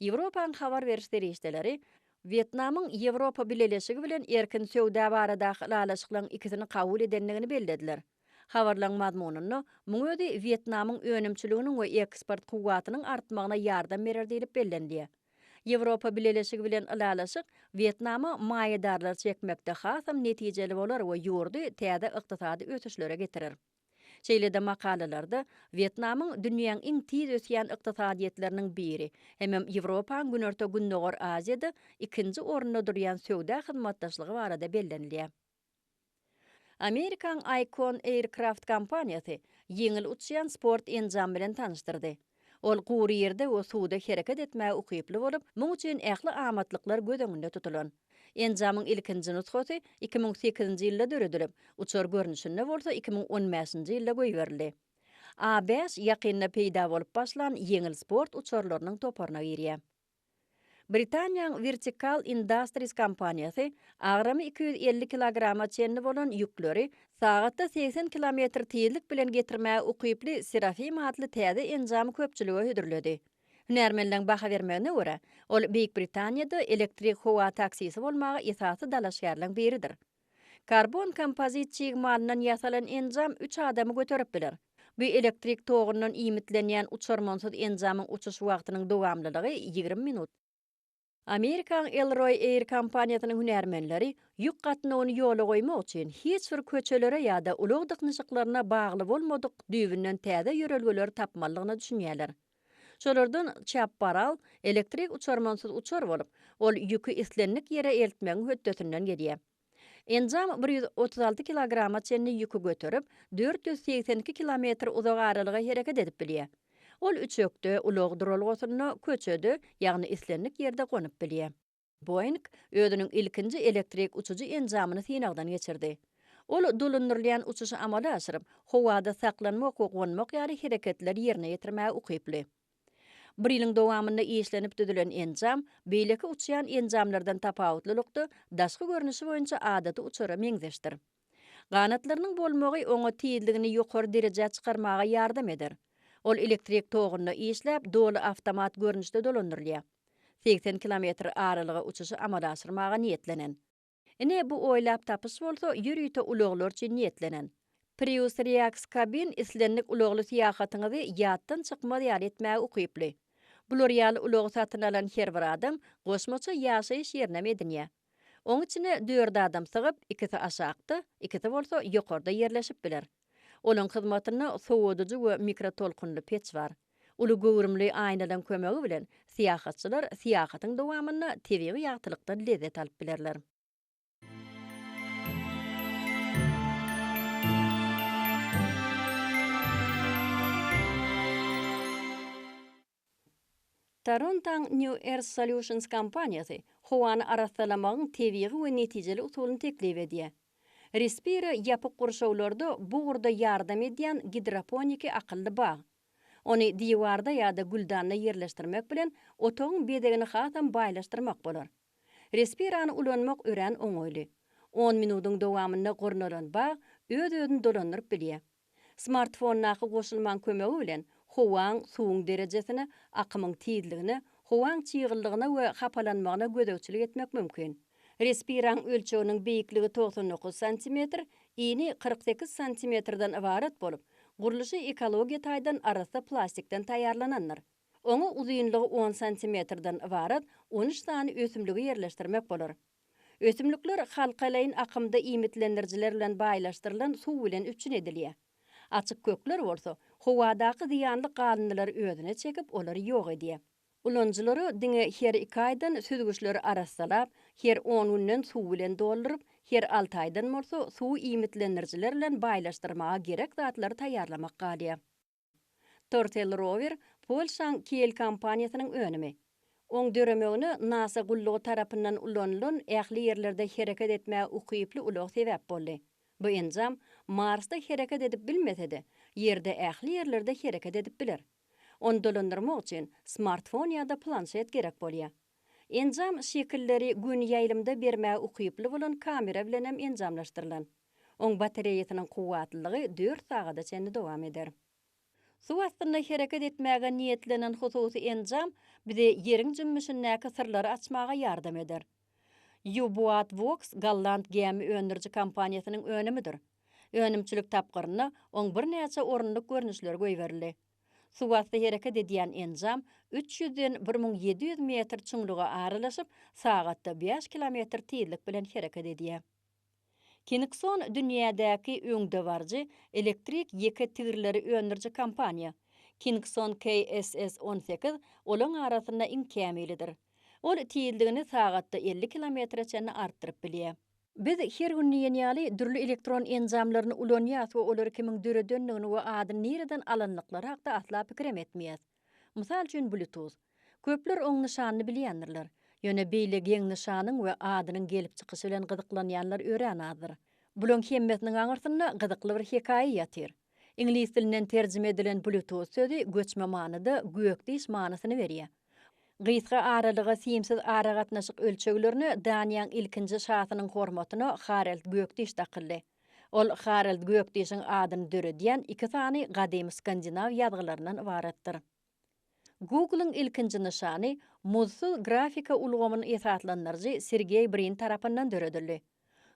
Ýewropanyň habar beriş serişdeleri Wýetnamyň Ýewropa Bileleşigi bilen erkin söwda baradaky ylalaşyklaryň ikisini kabul edendigini bellediler. Habarlaryň mazmunynda, muň özi Wýetnamyň önümçiliginiň we eksport kuwwatynyň artmagyna ýardam berer diýlip bellenilýär. Ýewropa Bileleşigi bilen ylalaşyk Wýetnama maýadarlary çekmekde hasam netijeli bolar we ýurdy täze ykdysady ösüşlere getirer. Şeýle-de makalalarda Wýetnamyň dünýäň iň tiz ösýän ykdysadyýetleriniň biri, hemem Ýewropaň Günorta-Gündogar Aziýada ikinji orunda durýan söwda hyzmatdaşlygy barada bellenilýär. Amerikaň Icon Aircraft kompaniýasy ýeňil uçýan sport enjamy bilen tanyşdyrdy. Ol gury ýerde we suwda hereket etmäge ukyply bolup, muň üçin ähli amatlyklar göz öňünde tutulan. Enjamyň ilkinji nusgasy iki müň sekizinji ýylda döredilip, uçar görnüşinde bolsa iki müň on bäşinji ýylda goýberildi. A bäş ýakynda peýda bolup başlan ýeňil sport uçarlarynyň toparyna girýär. Britaniýaň Vertical Industries kompaniýasy agramy iki ýüz elli kilograma çenli bolan ýükleri sagatda segsen kilometr tizlik bilen getirmäge ukyply Seraphim atly täze enjamy köpçülige hödürledi. Hünärmenleriň baha bermegine görä, ol Beýik Britaniýada elektrik howa taksisi bolmaga esasy dalaşgärleriň biridir. Karbon kompozit çig malyndan ýasalan enjam üç adamy göterip biler. Bu elektrik togyndan iýmitlenýän uçarmansyz enjamyň uçuş wagtynyň dowamlylygy ýigrimi minut. Amerikaň Elroy Air kompaniýasynyň hünärmenleri ýük gatnawyny ýola goýmak üçin hiç bir köçelere ýa-da ulag dyknyşyklaryna bagly bolmadyk düýbünden täze ýörelgeleri tapmalydygyna düşünýärler. Şolardan Çaparal elektrik uçarmansyz uçar bolup, ol ýüki islendik ýere eltmegiň hötdesinden gelýär. Enjam bir ýüz otuz alty kilograma çenli ýüki göterip, dört ýüz segsen iki kilometr uzak aralyga hereket edip bilýär. Ol üçekde, ulag duralgasynda, köçede, ýagny islendik ýerde gonup bilýär. Boeing özüniň ilkinji elektrik uçujy enjamyny synagdan geçirdi. Ol dolandyrylýan uçuşy amala aşyryp, howada saklanmak we gonmak ýaly hereketleri ýerine ýetirmäge ukyply. Bir ýylyň dowamynda işlenip düzülen enjam, beýleki uçýan enjamlardan tapawutlylykda, daşky görnüşi boýunça adaty uçara meňzeşdir. Ganatlarynyň bolmagy oňa tizligini ýokary derejä çykarmaga ýardam eder. Ol elektrik togunda işläp, doly awtomat görnüşde dolandyrylýar. Segsen kilometr aralyga uçuşy amala aşyrmaga niýetlenen. Ine, bu oýlap tapyş bolsa ýörite ulaglar üçin niýetlenen. Prius Reax Cabin islendik ulagly syýahatyňyzy ýatdan çykmaz ýaly etmäge ukyply. Bular ýaly ulagy satyn alan her bir adam goşmaça ýaşaýyş ýerinem edinýär. Oň içine dört adam sygyp, ikisi aşakda, ikisi bolsa ýokarda ýerleşip biler. Olaň hyzmatynda sowadyjy we mikrotolkunly peç bar. Uly göwrümli aýnalaň kömegi bilen syýahatçylar syýahatyň dowamynda tebigy ýagtylykdan lezzet alyp bilerler. Torontoň New Earth Solutions kompaniýasy howany arassalamagyň tebigy we netijeli usulyny teklip edýär. Respire ýapyk gurşawlarda bu ugurda ýardam edýän gidroponiki akylly bag. Ony diwarda ýa-da güldanda ýerleşdirmek bilen otagyň bezegini hasam baýlaşdyrmak bolar. Respirany ulanmak örän oňaýly. On minudyň dowamynda gurnalan bag öz-özüni dolandyryp bilýär. Smartfondaky goşulmaň kömegi bilen howaň suwuň derejesine, akymyň tizligine, howaň çygyllygyna we hapalanmagyna gözegçilik etmek mümkin. Respiraň ölçeginiň beýikligi togsan dokuz santimetr, ini kyrk sekiz santimetrden ybarat bolup, gurluşy ekologiýa taýdan arassa plastikden taýýarlanandyr. Oňa uzynlygy on santimetrden ybarat on üç sany ösümligi ýerleşdirmek bolar. Ösümlikler halkalaýyn akymda iýmitlendirijiler bilen baýlaşdyrylan suw bilen üpjün edilýär. Açyk kökler bolsa, howadaky zyýanly galyndylary özüne çekip, olary ýok edýär. Ulanyjylara diňe her iki aýdan süzgüçleri arassalap, her on günden suw bilen dolduryp, her alty aýdan bolsa suwy iýmitlendirijiler bilen baýlaşdyrmaga gerek zatlary taýýarlamak galýar. Tortel rower Polşaň Kiel kompaniýasynyň önümi. Oň döremegine nasa gullugy tarapyndan ulanylan ähli ýerlerde hereket etmäge ukyply ulag sebäp boldy. Bu enjam Marsda hereket edip bilmese-de, Ýerde ähli ýerlerde hereket edip biler. Ony dolandyrmak üçin smartfon ýa-da planşet gerek bolýar. Enjam şekilleri gün ýaýlymda bermäge ukyply bolan kamera bilen hem enjamlaşdyrylan. Oň batareýasynyň kuwwatlylygy dört sagada çenli dowam eder. Suw astynda hereket etmäge niýetlenen hususy enjam bize Ýeriň jümmüşindäki syrlary açmaga ýardam eder. U-Boatvox golland gämi öndüriji kompaniýasynyň önümidir. Önümçilik tapgyrynda oň birnäçe orunlyk görnüşleri goýberildi. Suwasty hereket edýän enjam üç ýüzden bir müň ýedi ýüz metr çuňluga aralaşyp, sagatda bäş kilometr tizlik bilen hereket edýär. Kinikson dünýädäki öňdebaryjy elektrik ýeke tigirleri öndüriji kompaniýa. Kinikson KSS on sekiz olaň arasynda iň kämilidir. Ol tizligini sagatda elli kilometre çenli artdyryp bilýär. Biz her gün diýen ýaly dürli elektron enjamlaryny ulanýas we olary kimiň döredendigini we adyny nireden alandyklary hakda asla pikirem etmeýäs. Mysal üçin Bluetooth. Köpler oň nyşanyny bilýändirler. Ýöne beýle geň nyşanyň we adynyň gelip çykyşy bilen gyzyklanýanlar örän azdyr. Bulaň hemmesiniň aňyrsynda gyzykly bir hekaýa ýatyr. Iňlis dilinden terjime edilen Bluetooth sözi göçme manyda gök diş manysyny berýär. Gysga aralyga simsiz aragatnaşyk ölçeglerine Daniýaň ilkinji şasynyň hormatyna Harald gök diş dakyldy. Ol Harald gök dişiň adyny döredýän iki sany gadymy skandinaw ýazgylaryndan ybaratdyr. Google-yň ilkinji nyşany muzdsuz grafika ulgamyny esaslandyryjy Sergeý Brin tarapyndan döredildi.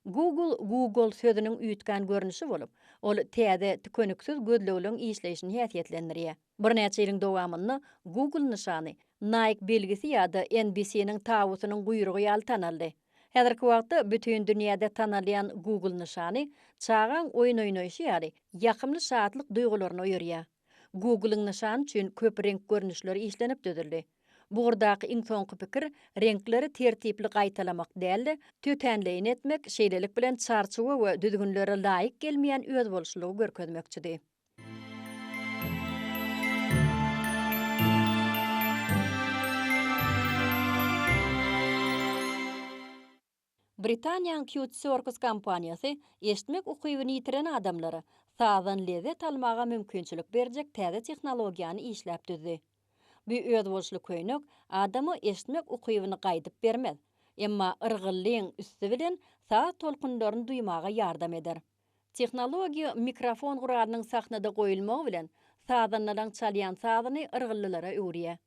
Google Googol sözüniň üýtgän görnüşi bolup, ol täze, tükeniksiz gözlegleriň işleýşini häsiýetlendirýär. Birnäçe ýylyň dowamynda Google nyşany Nike belgisi ýa-da NBC-niň tabutynyň guýrugy ýaly tanaldy. Häzirki wagtda bütin dünýäde tanalýan Google nyşany çagaň oýun oýnaýşy ýaly ýakymly şatlyk duýgularyny oýarýar. Google-yň nyşany üçin köp reňk görnüşleri işlenip düzüldi. Bu ugurdaky iň soňky pikir reňkleri tertipli gaýtalamak däl-de, tötänleýin etmek, şeýlelik bilen çarçuwa we düzgünlere laýyk gelmeýän özboluşlylygy görkezmekçidi. Britaniýanyň Cute Circus kompaniýasy eşitmek ukybyny ýitiren adamlara sazdan lezzet almaga mümkinçilik berjek täze tehnologiýany işläp düzdi. Bu özboluşly köýnek adama eşitmek ukybyny gaýdyp bermez, emma yrgyllygyň üsti bilen saz tolkunlaryny duýmaga ýardam eder. Tehnologiýa mikrofon guralynyň sahnada goýulmagy bilen sazandalaň çalýan sazyny yrgyllylara öwürýär.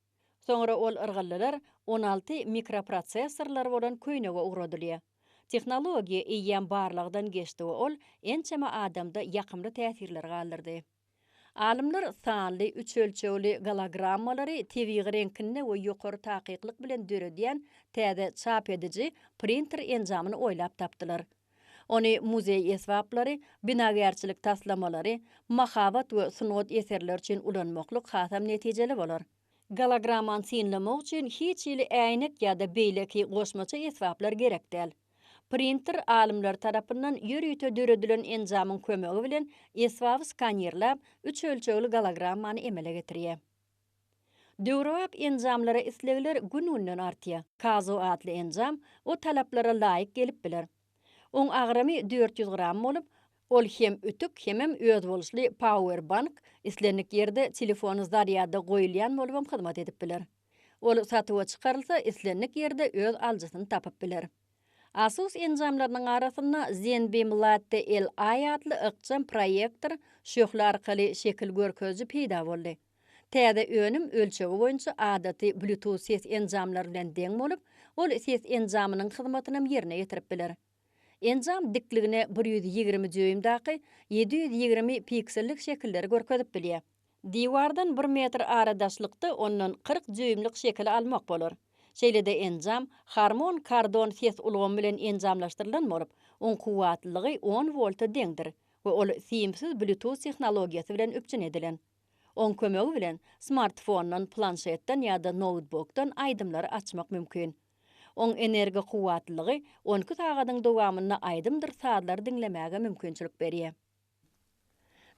Soňra ol yrgyldylar on alty mikroprosessorlary bolan köýnege ugradylýar. Tehnologiýa eýýäm barlagdan geçdi we ol ençeme adamda ýakymly täsirler galdyrdy. Alymlar sanly, üç ölçegli gologrammalary tebigy reňkinde we ýokary takyklyk bilen döredýän täze çap ediji, printer enjamyny oýlap tapdylar. Ony muzeý esbaplary, binagärçilik taslamalary, mahabat we sungat eserleri üçin ulanmaklyk hasam netijeli bolar. Gologramany synlamak üçin hiç hili äýnek ýa-da beýleki goşmaça esbaplar gerek däl. Printer alymlar tarapyndan ýörite döredilen enjamyň kömegi bilen esbaby skanirläp, üç ölçegli gologramany emele getirýär. Döwrebap enjamlara islegler gün-günden artýa. Kazo atly enjam o talaplara laýyk gelip biler. Oň agramy dört ýüz gram bolup, ol hem ütük, hemem özboluşly power bank, islendik ýerde telefony zarýada goýulýan bolubam hyzmat edip biler. Ol satuwa çykarylsa, islendik ýerde öz alyjysyny tapyp biler. Asus enjamlarynyň arasynda Zenbeam Latte LI atly ykjam proýektor, şöhle arkaly şekil görkeziji peýda boldy. Täze önüm ölçegi boýunça adaty Bluetooth ses enjamlary bilen deň bolup, ol ses enjamynyň hyzmatynam ýerine ýetirip biler. Enjam dikligine bir ýüz ýigrimi dýuýmdaky ýedi ýüz ýigrimi piksellik şekilleri görkezip bilýär. Diwardan bir metr aradaşlykda ondan kyrk dýuýmlyk şekili almak bolar. Şeýle-de enjam Harmon Kardon ses ulgamy bilen enjamlaşdyrylan bolup, oň kuwwatlylygy on wolta deňdir we ol simsiz Bluetooth tehnologiýasy bilen üpjün edilen. Oň kömegi bilen smartfondan, planşetden ýa-da noutbukdan aýdymlary açmak mümkin. Oň energi kuwwatlylygy on iki sagadyň dowamynda aýdymdyr sazlary diňlemäge mümkinçilik berýär.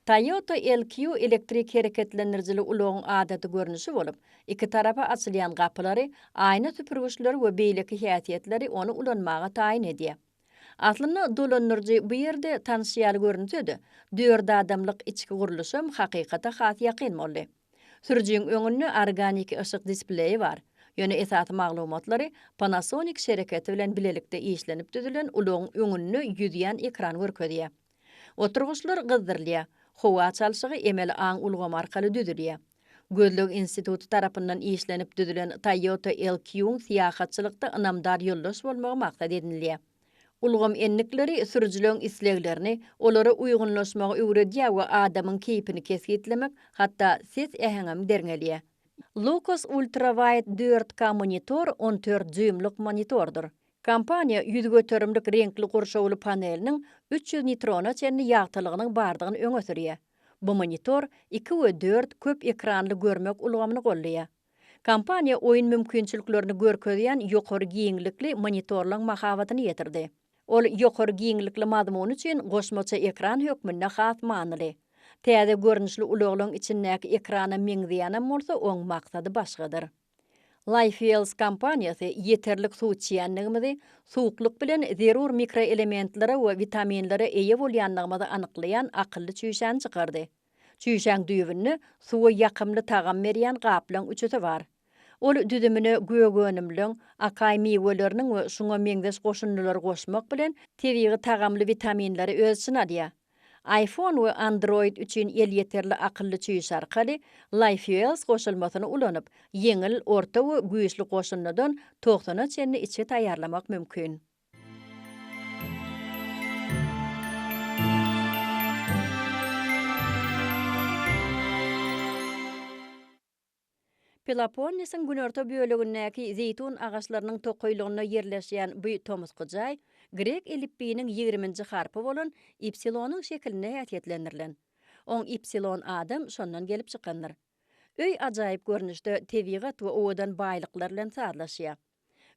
Toyota LQ elektrik hereketlendirijili ulagyň adaty görnüşi bolup, iki tarapa açylýan gapylary, aýna süpürgiçleri we beýleki häsiýetleri ony ulanmaga taýyn edýär. Aslynda dolandyryjy bu ýerde tanyş ýaly görünse-de, dört adamlyk içki gurluşam hakykata has ýakyn boldy. Sürüjiň öňünde organiki yşyk displeýi bar, ýöne esasy maglumatlary Panasonic şereketi bilen bilelikde işlenip düzülen ulagyň öňünde ýüzýän ekran görkezýär. Oturgyçlar gyzdyrylýar, howa çalşygy emeli aň ulgamy arkaly düzülýär. Gözleg instituty tarapyndan işlenip düzülen Toyota LQ-yň syýahatçylykda ynamdar ýoldaş bolmagy maksat edinilýär. Ulgam endikleri sürüjileň isleglerini, olara uýgunlaşmagy öwredýär we adamyň keýpini kesgitlemek, hatda ses äheňem derňelýär. Lucas UltraWide dört K monitor on dört dýuýmlyk monitordyr. Kompaniýa ýüz göterimlik reňkli gurşawly paneliniň üç ýüz nitrona çenli ýagtylygynyň bardygyny öňe sürýär. Bu monitor iki we dört köp ekranly görmek ulgamyny goldaýar. Kompaniýa oýun mümkinçiliklerini görkezýän ýokary giňlikli monitorlaň mahabatyny ýetirdi. Ol ýokary giňlikli mazmun üçin goşmaça ekran hökmünde has manyly. Täze görnüşli ulaglaň içindäki ekrana meňzeýänem bolsa oň maksady başgadyr. Lifeels kompaniýasy ýeterlik suw içýändigimizi, suwuklyk bilen zerur mikroelementlere we witaminlere eýe bolýandygymyzy anyklaýan akylly çüýşäni çykardy. Çüýşäň düýbünde suwa ýakymly tagam berýän gaplaň üçüsi bar. Ol düzümine gök önümleň, akaý miweleriniň we şuňa meňzeş goşundylary goşmak bilen, tebigy tagamly witaminleri öz içine alýar. iPhone we Android üçin elýeterli akylly çüýş arkaly LifeOS goşulmasyny ulanyp, ýeňil, orta we güýçli goşundydan togsana çenli içgi taýýarlamak mümkin. Peloponnesiň günorta bölegindäki zeýtun agaçlarynyň tokaýlygynda ýerleşýän bu tomusky jaý grek elipbiýiniň ýigriminji harpy bolan ipsilonyň şekilinde häsiýetlendirilen. Oň ipsilon adam şondan gelip çykandyr. Öý ajaýyp görnüşde tebigat we owadan baýlyklar bilen sazlaşýar.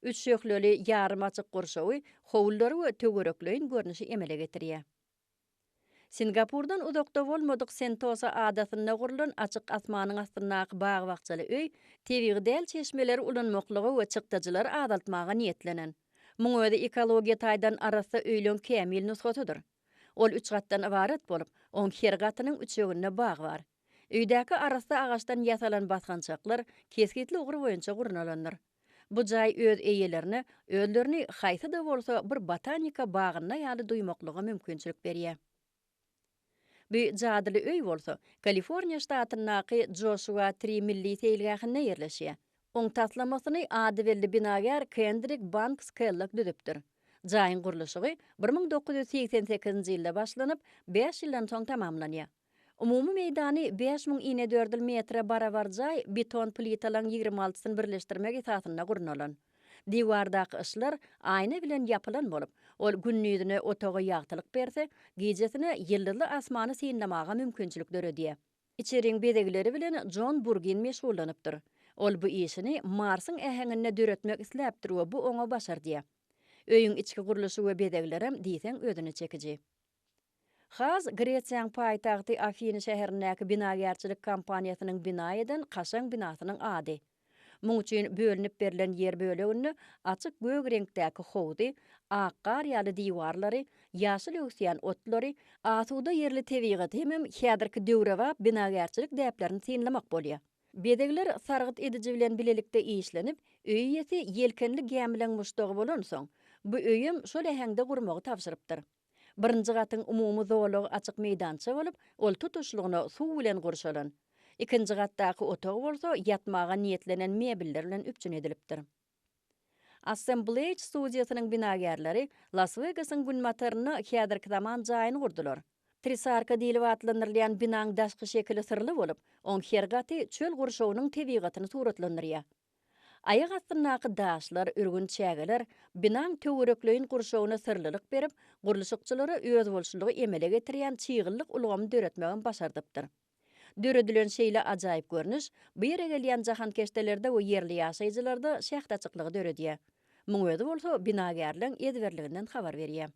Üç şöhleli ýarym açyk gurşawy, howlulary we töwerekleýin görnüşi emele getirýär. Singapurdan uzakda bolmadyk Sentosa adasynda gurlan açyk asmanyň astyndaky bag-bakjaly öý tebigy däl çeşmeleri ulanmaklyga we çykdajylary azaltmaga niýetlenen. Muň özi ekologiýa taýdan arassa öýleň kämil nusgasydyr. Ol üç gatdan ybarat bolup, oň her gatynyň üçeginde bag bar. Öýdäki arassa agaçdan ýasalan basgançaklar kesgitli ugur boýunça gurnalandyr. Bu jaý öz eýelerine özlerini haýsy-da bolsa bir botanika bagynda ýaly duýmaklyga mümkinçilik berýär. Bu jadyly öý bolsa Kaliforniýa ştatyndaky Joshua Tree milli seýilgähinde ýerleşýär. Oň taslamasyny adybelli binagär Kendrik Banks Kellok düzüpdir. Jaýyň gurluşygy bir müň dokuz ýüz segsen sekizinji ýylda başlanyp, bäş ýyldan soň tamamlanýar. Umumy meýdany bäş müň inedördül metre barabar jaý beton plitalaryň ýigrimi altysyny birleşdirmek esasynda gurnalan. Diwardaky yşlar aýna bilen ýapylan bolup, ol gündizine otaga ýagtylyk berse, gijesine ýyldyzly asmany synlamaga mümkinçilik döredýär. Içeriň bezegleri bilen Jon Burgin meşgullanypdyr. Ol bu işini Marsyň äheňinde döretmek isläpdir we bu oňa başardýar. Öýüň içki gurluşy we bezeglerem diýseň özüne çekiji. Has Gresiýaň paýtagty Afiny şäherindäki binagärçilik kompaniýasynyň bina eden kaşaň binasynyň ady. Muň üçin bölünip berlen ýer böleginde açyk gök reňkdäki howzy, ak gar ýaly diwarlary, ýaşyl öwüsýän otlary, asuda ýerli tebigaty hemem häzirki döwrebap binagärçilik däplerini synlamak bolýar. Bezegler sargyt ediji bilen bilelikde işlenip, öý eýesi ýelkenli gämileň muşdagy bolansoň, bu öýem şol äheňde gurmagy tabşyrypdyr. Birinji gatyň umumy zolagy açyk meýdança bolup, ol tutuşlygyna suw bilen gurşalan. Ikinji gatdaky otag bolsa ýatmaga niýetlenen mebeller bilen üpjün edilipdir. Assemblage studiýasynyň binagärleri Las-Wegasyň günbatarynda häzirki zaman jaýyny gurdular. Trisarka diýlip atlandyrylýan binaň daşky şekili syrly bolup, oň her gaty çöl gurşawynyň tebigatyny suratlandyrýar. Aýak astyndaky daşlar, ürgün çägeler binaň töwerekleýin gurşawyna syrlylyk berip, gurluşykçylara özboluşlylygy emele getirýän çygyllyk ulgamy döretmegem başardypdyr. Döredilen şeýle ajaýyp görnüş bu ýere gelýän jahankeşdelerde we ýerli ýaşaýjylarda şähdaçyklygy döredýär. Muň özi bolsa binagärleň ezberliginden habar berýär.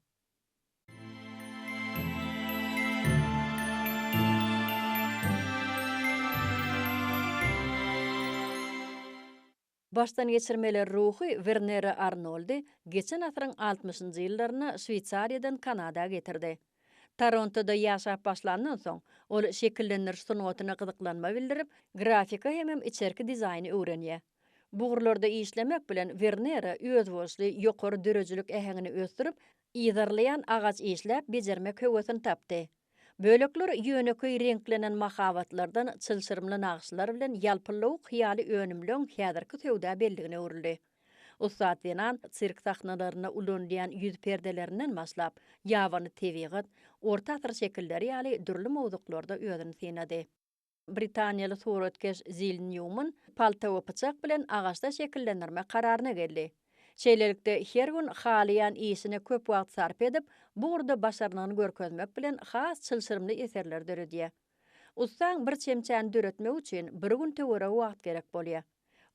Başdan geçirmeler ruhy Wernere Arnoldy geçen asyryň altmyşynjy ýyllarynda Şweýsariýadan Kanada getirdi. Torontoda ýaşap başlandan soň, ol şekillendiriş sungatyna gyzyklanma bildirip, grafika hemem içerki dizaýny öwrenýär. Bugurlarda işlemek bilen Wernera özboluşly ýokary döredijilik äheňini ösdürip, yzarlaýan agaç işläp bejermek höwesini tapdy. Bölekler ýönekeý reňklenen mahabatlardan çylşyrymly nagyşlar bilen ýalpyllawuk hyýaly önümleň häzirki söwda belligine öwrüldi. Ussat zenan sirk sahnalarynda ulanylýan ýüz perdelerinden başlap, ýabany tebigat, orta asyr şekilleri ýaly dürli mowzuklarda özüni synady. Britaniýaly suratkeş Zil Nýuman palta we pyçak bilen agaçda şekillendirmek kararyna geldi. Şeýlelikde, her gün halaýan işine köp wagt sarp edip, bu ugurda başarnygyny görkezmek bilen has çylşyrymly eserleri döredýär. Ussaň bir çemçäni döretmek üçin bir gün töweregi wagt gerek bolýar.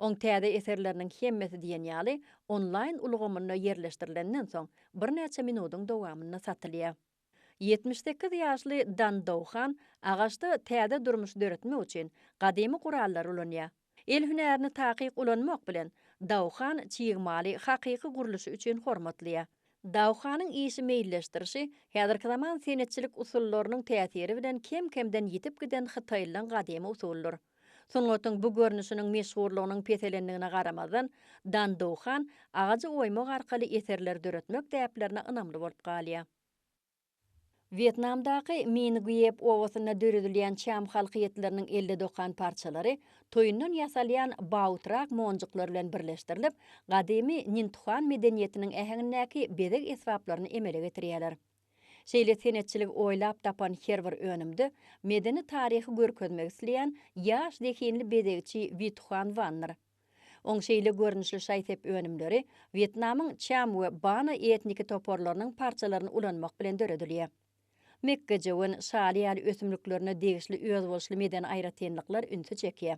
Oň täze eserleriniň hemmesi diýen ýaly onlaýn ulgamynda ýerleşdirilenden soň, birnäçe minudyň dowamynda satylýar. Ýetmiş sekiz ýaşly Dan Douhan agaçda täze durmuş döretmek üçin gadymy gurallary ulanýar. El hünärini takyk ulanmak bilen, Douhan çig maly hakyky gurluşy üçin hormatlaýar. Douhanyň işi meýilleşdirişi häzirki zaman senetçilik usullarynyň täsiri bilen kem-kemden ýitip giden hytaýlylaň gadymy usulydyr. Sungatyň bu görnüşiniň meşhurlygynyň peselendigine garamazdan, Dandow han agajy oýmak arkaly eserler döretmek däplerine ynamly bolup galýar. Wýetnamdaky Mingyýep obasynda döredilýän çam halkyýetleriniň elde dokan parçalary toýundan ýasalýan baotrak monjuklar bilen birleşdirilip, gadymy Nintuhan medeniýetiniň äheňindäki bezeg esbaplaryny emele getirýärler. Şeýle senetçiligi oýlap tapan her bir önümde medeni taryhy görkezmek isleýän ýaş zehinli bezegçi Wituhan Wandyr. Oň şeýle görnüşli şaý-sep önümleri Wýetnamyň Çam we Bana etniki toparlarynyň parçalaryny ulanmak bilen döredilýär. Mekgejöwen, şaly ýaly ösümliklerine degişli özboluşly medeni aýratynlyklar ünsi çekýär.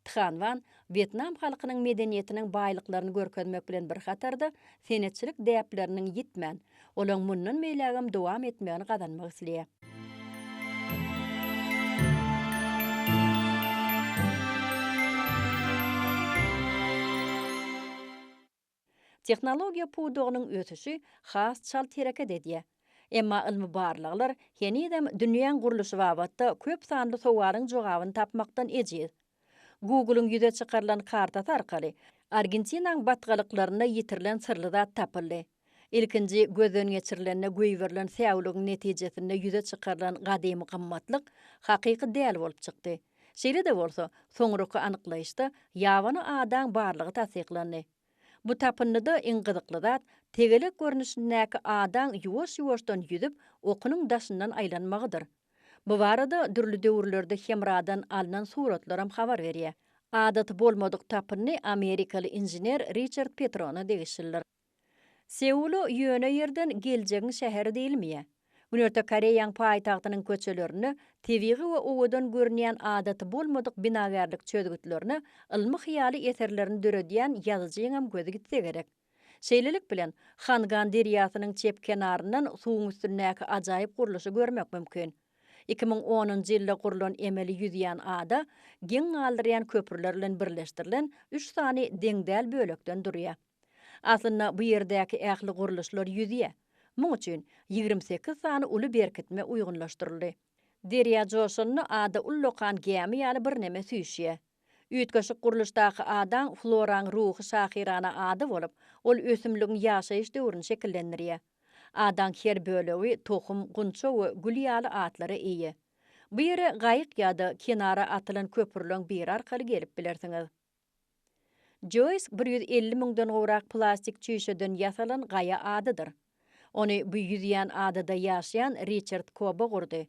Than Van wýetnam halkynyň medeniýetiniň baýlyklaryny görkezmek bilen bir hatarda, senetçilik däpleriniň ýitmän, olaň mundan beýlägem dowam etmegini gazanmak isleýär. Tehnologiýa pudagynyň ösüşi has çalt hereket edýär. Emma ylmy barlaglar henizem dünýäň gurluşy babatda köp sanly sowalyň jogabyny tapmakdan ejiz. Google-yň ýüze çykarylan kartasy arkaly Argentinaň batgalyklarynda ýitirilen syrly zat tapyldy. Ilkinji gözden geçirilende goýberilen säwligiň netijesinde ýüze çykarylan gadymy gymmatlyk hakyky däl bolup çykdy. Şeýle-de bolsa, soňraky anyklaýyşda ýabany adaň barlygy tassyklandy. Bu tapyndyda iň gyzykly zat, tegelek görnüşindäki adaň ýuwaş-ýuwaşdan ýüzüp, okunyň daşyndan aýlanmagydyr. Bu barada dürli döwürlerde Hemradan alnan suratlaram habar berýär. Adaty bolmadyk tapyndy amerikaly inžener Riçard Petrona degişlidir. Seula ýöne ýerden geljegiň şäheri diýilmeýä. Günorta Koreýaň paýtagtynyň köçelerinde tebigy we owadan görünýän adaty bolmadyk binagärlik çözgütlerine ylmy-hyýaly eserlerini döredýän ýazyjyňam gözi gitse gerek. Şeýlelik bilen, Hangan derýasynyň çep kenaryndan suwuň üstündäki ajaýyp gurluşy görmek mümkin. Iki müň onunjy ýylda gurlan emeli ýüzýän ada geň galdyrýan köprüler bilen birleşdirilen üç sany deň däl bölekden durýar. Aslynda bu ýerdäki ähli gurluşlar ýüzýä. Muň üçin ýigrimi sekiz sany uly berkitme uýgunlaşdyryldy. Derýa joşanda ada ullakan gämi ýaly birneme süýşýä. Üýtgeşik gurluşdaky adaň floraň ruhy şahyrana ady bolup, ol ösümligiň ýaşaýyş döwrüni şekillendirýä. Adaň her bölegi tohum, gunça we gül ýaly atlara eýe. Bu ýere gaýyk ýa-da kenara atylan köprüleň biri arkaly gelip bilersiňiz. Joýs bir ýüz elli müňden gowrak plastik çüýşeden ýasalan gaýa adadyr. Ony bu ýüzýän adada ýaşaýan Riçard Kobe gurdy.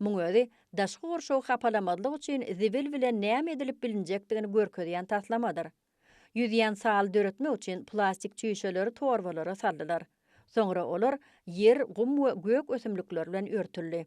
Muň özi daşky gurşawy hapalamazlyk üçin zibil bilen näme edilip bilinjekdigini görkezýän taslamadyr. Ýüzýän saly döretmek üçin plastik çüýşeleri torbalara saldylar. Soňra olar ýer, gum we gök ösümlikler bilen örtüldi.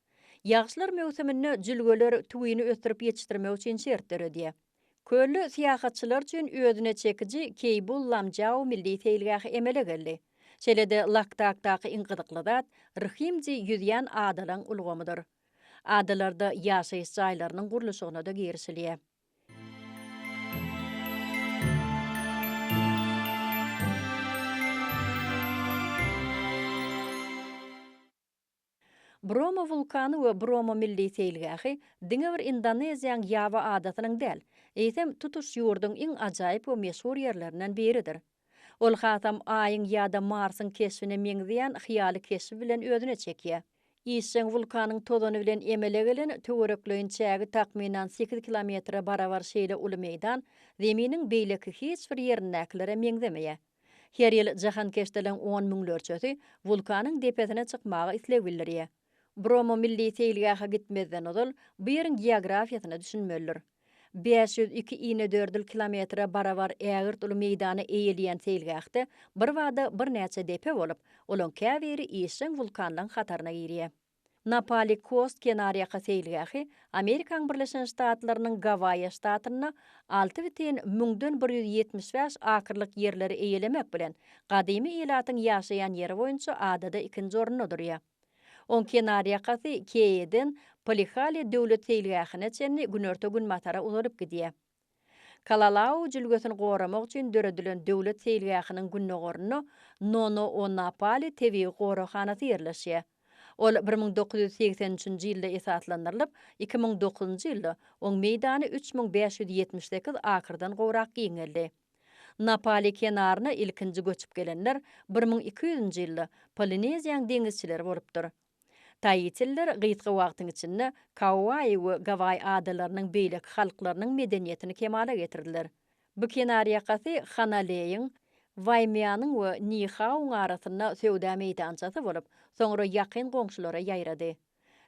Ýagyşlar möwsüminde jülgeler tüwini ösdürip ýetişdirmek üçin şert döredýär. Kölde syýahatçylar üçin özüne çekiji Keýbul-Lamjau milli seýilgähi emele geldi. Şeýle-de Laktakdaky iň gyzykly zat Rhimji ýüzýän adalaň ulgamydyr. Adalarda ýaşaýyş jaýlarynyň gurluşygyna-da girişilýär. Bromo wulkany we Bromo milli seýilgähi diňe bir Indoneziýaň Ýawa adasynyň däl, eýsem, tutuş ýurduň iň ajaýyp we meşhur ýerlerinden biridir. Ol hasam Aýyň ýa-da Marsyň keşbine meňzeýän hyýaly keşbi bilen özüne çekýär. Işjeň wulkanyň tozany bilen emele gelen töwerekleýin çägi takmynan sekiz kilometre barabar şeýle uly meýdan Zeminiň beýleki hiç bir ýerindäkilere meňzemeýär. Her ýyl jahankeşdeleriň on müňlerçesi wulkanyň depesine çykmaga isleg bildirýär. Bromo milli seýilgähe gitmezden ozal bu ýeriň geografiýasyna düşünmelidir. Bäş ýüz iki inedördül kilometre barabar ägirt uly meýdany eýeleýän seýilgähde birbada birnäçe depe bolup, olaň käbiri işjeň wulkanlaryň hataryna girýär. Napali Coast kenarýaka seýilgähi Amerikaň Birleşen Ştatlarynyň Gawaýa ştatynda alty bütin müňden bir ýüz ýetmiş bäş akrlyk ýerleri eýelemek bilen, gadymy ilatyň ýaşaýan ýeri boýunça adada ikinji orunda durýar. Oň kenarýakasy Keýeden Polihale döwlet seýilgähine çenli günorta-günbatara uzalyp gidýär. Kalalau jülgesini goramak üçin döredilen döwlet seýilgähiniň gündogarynda Nonoonapali tebigy goraghanasy ýerleşýär. Ol bir müň dokuz ýüz segsen üçünji ýylda esaslandyrylyp, iki müň dokuzynjy ýylda oň meýdany üç müň bäş ýüz ýetmiş sekiz akrdan gowrak giňeldi. Napali kenaryna ilkinji göçüp gelenler bir müň iki ýüzünji ýylda Polineziýaň deňizçileri bolupdyr. Taitililer gysga wagtyň içinde Kauai we Gawai adalarynyň beýleki halklarynyň medeniýetini kemala getirdiler. Bu kenarýakasy Hanaleýiň, Waimianyň we Nihauň arasynda söwda meýdançasy bolup, soňra ýakyn goňşulara ýaýrady.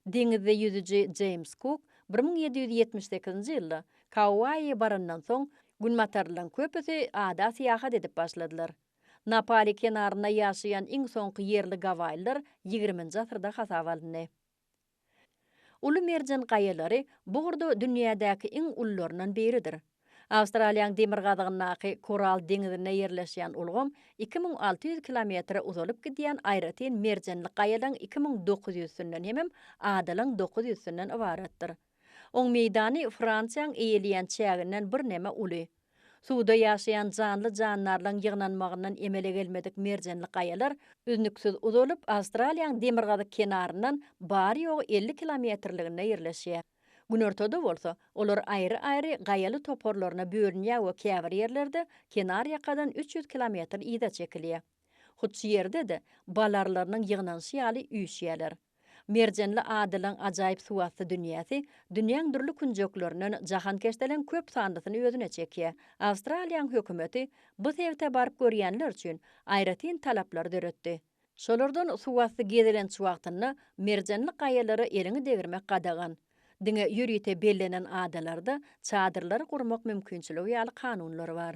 Deňizde ýüzüji Jeýms Kuk bir müň ýedi ýüz ýetmiş sekizinji ýylda Kauai barandan soň, günbatarylaryň köpüsi ada syýahat edip başladylar. Na Pali kenarynda ýaşaýan iň soňky ýerli gawaýylar ýigriminji asyrda hasaba alyndy. Uly merjen gaýalary bu ugurda dünýädäki iň ulularyndan biridir. Awstraliýanyň demirgazygyndaky Koral deňizinde ýerleşýän ulgam iki müň alty ýüz kilometre uzalyp gidýän aýratyn merjenli gaýalaň iki müň dokuz ýüz sünnenhemem adalyň dokuz ýüz sünnen ybaratdyr. Oň meýdany Fransiýaň eýeleýän çäginden birneme uly. Suwda ýaşaýan janly-jandarlaryň ýygnanmagyndan emele gelmedik merjenli gaýalar üznüksiz uzalyp, Awstraliýaň demirgazyk kenaryndan bary-ýogy elli kilometrliginde ýerleşýär. Günortada bolsa, olar aýry-aýry gaýaly toparlaryna bölünýär we käbir ýerlerde kenarýakadan üç ýüz kilometr yza çekilýär. Hut şu ýerde-de bal arlarynyň ýygnanyşy ýaly üýşýärler. Merjenli Adylyň ajaýyp suwasty dünýäsi dünýäň dürli künjeklerinden jahankeşdeleň köp sanlysyny özüne çekýär. Awstraliýanyň hökümeti bu sebite baryp görýänler üçin aýratyn talaplary döretdi. Şolardan suwasty gezelenç wagtynda merjenli gaýalara eliňi degirmek gadagan. Diňe ýörite bellenen adalarda çadyrlary gurmak mümkinçiligi ýaly kanunlar bar.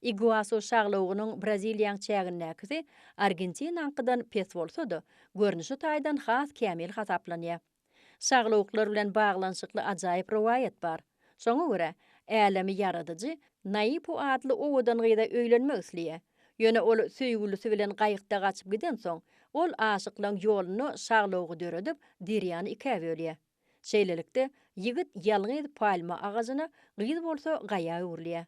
Iguasu şaglawugynyň Braziliýaň çägindäkisi Argentinaňkydan pes bolsa-da, görnüşi taýdan has kämil hasaplanýar. Şaglawuklar bilen baglanyşykly ajaýyp rowaýat bar. Şoňa görä, älemi ýaradyjy Naipu atly owadan gyza öýlenmek isleýär. Ýöne ol söýgülisi bilen gaýykda gaçyp gidensoň, ol aşyklaň ýolunda şaglawugy döredip, derýany ikä bölýär. Şeýlelikde, ýigit ýalňyz palma agajyna, gyz bolsa gaýa öwrülýär.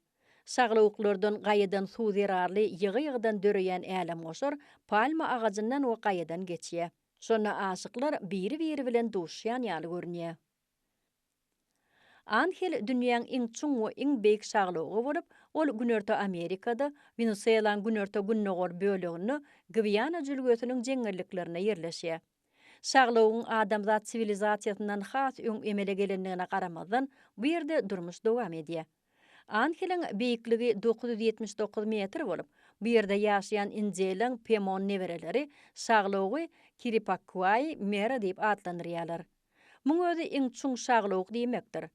Şaglawuklardan, gaýadan suw zerarly ýygy-ýygydan döreýän älemgoşar palma agajyndan we gaýadan geçýär. Şonda aşyklar biri-biri bilen duşýan ýaly görünýär. Anhel dünýäň iň çuň we iň beýik şaglawugy bolup, ol Günorta Amerikada, Wenesuelaň günorta-gündogar böleginde Gwiana jülgesiniň jeňňelliklerinde ýerleşýär. Şaglowyň adamzat siwilizasiýasyndan has öň emele gelendigine garamazdan, bu ýerde durmuş dowam edýär. Anhiliň beýikligi dokuz ýüz ýetmiş dokuz metr bolup, bu ýerde ýaşaýan Indeliň Pemon nebereleri şaglowy Kiripakuai Mera diýip atlandyrýarlar. Muň özi iň çuň şaglowuk diýmekdir.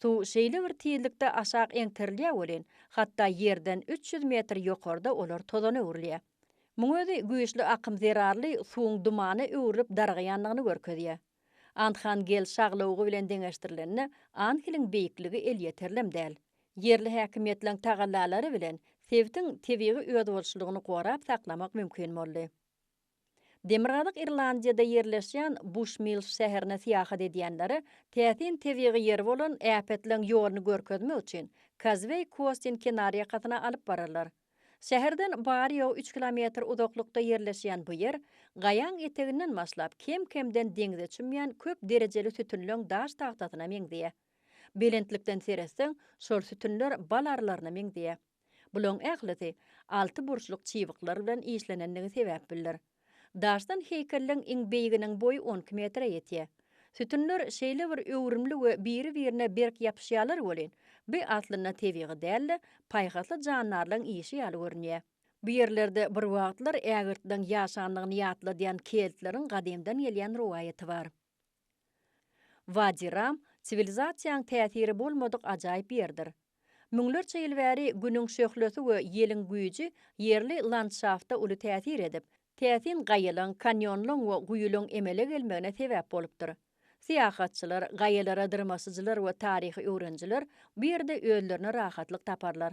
Suw şeýle bir tizlikde aşak eňterilýär welin, hatda ýerden üç ýüz metr ýokarda olar tozana öwrülýär. Muň özi güýçli akym zerarly suwuň dumana öwrülip dargaýandygyny görkezýär. Andhangel şaglawugy bilen deňeşdirilende, Anhiliň beýikligi elýeterlem däl. Ýerli häkimiýetleriň tagallalary bilen sebitiň tebigy özboluşlylygyny gorap saklamak mümkin boldy. Demirgazyk Irlandiýada ýerleşýän Buşmills şäherine syýahat edýänlere täsin tebigy ýeri bolan äpetleň ýoluny görkezmek üçin Kazweý Kostin kenarýakasyna alyp bararlar. Şäherden bary-ýogy üç kilometr uzaklykda ýerleşýän bu ýer, gaýaň eteginden başlap, kem-kemden deňze çümýän köp derejeli sütünleň daş tagtasyna meňzeýär. Belentlikden seretseň, şol sütünler bal arylaryna meňzeýär. Bulaň ählisi altyburçluk çybyklar bilen işlenendigi sebäpbildir. Daşdan heýkelleň iň beýiginiň boýy on iki metre ýetýär. Sütünler şeýle bir öwrümli we biri-birine berk ýapyşýarlar welin, bu aslynda tebigy däl-de, paýhasly jandarlaryň işi ýaly görünýär. Bu ýerlerde birwagtlar ägirtleň ýaşandygyny ýatladýan keltleriň gadymdan gelýän rowaýaty bar. Wadi Ram siwilizasiýaň täsiri bolmadyk ajaýyp ýerdir. Müňlerçe ýyl bäri Günüň şöhlesi we ýeliň güýji ýerli landşafta uly täsir edip, täsin gaýalaň, kanýonlaň we guýulaň emele gelmegine sebäp bolupdyr. Syýahatçylar, gaýalara dyrmaşyjylar we taryhy öwrenijiler bu ýerde özlerine rahatlyk taparlar.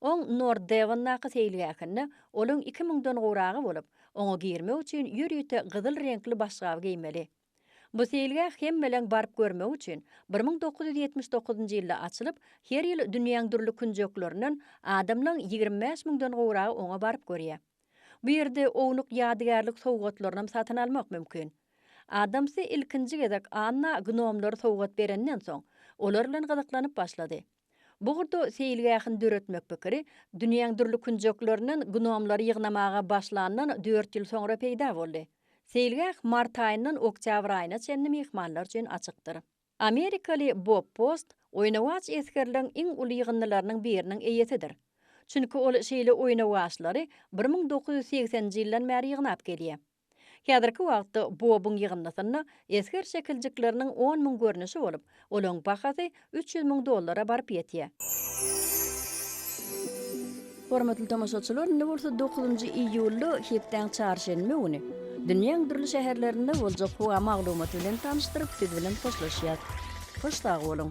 Oň Nord Devondaky seýilgähinde olaň iki müňden gowragy bolup, oňa girmek üçin ýörite gyzyl reňkli başgap geýmeli. Bu seýilgäh hemmeleň baryp görmegi üçin bir müň dokuz ýüz ýetmiş dokuzynjy ýylda açylyp, her ýyl dünýäň dürli künjeklerinden adamlaň ýigrimi bäş müňden gowragy oňa baryp görýär. Bu ýerde ownuk ýadygärlik sowgatlarynam satyn almak mümkin. Adamsy ilkinji gezek Anna gnomlary sowgat berenden soň, olar bilen gyzyklanyp başlady. Bu ugurda seýilgähini döretmek pikiri dünýäň dürli künjeklerinden gnomlary ýygnamaga başlandan dört ýyl soňra peýda boldy. Seýilgäh mart aýyndan oktýabr aýyna çenli myhmanlar üçin açykdyr. Amerikaly Bob Post oýnawaç esgerleriň iň uly ýygyndylarynyň biriniň eýesidir. Çünki ol şeýle oýnawaçlary bir müň dokuz ýüz segseninji ýyldan bäri ýygnap gelýär. Häzirki wagtda bobuň ýygyndysynda esger şekiljikleriniň on müň görnüşi bolup, olaryň bahasy üç ýüz müň dollara baryp ýetýär. Hormatly tomaşaçylar, indi bolsa dokuzynjy iýulda, hepdäň çarşenbe güni, dünýäň dürli şäherlerinde boljak howa maglumaty bilen tanyşdyryp, siz bilen hoşlaşýas. Hoş sag boluň!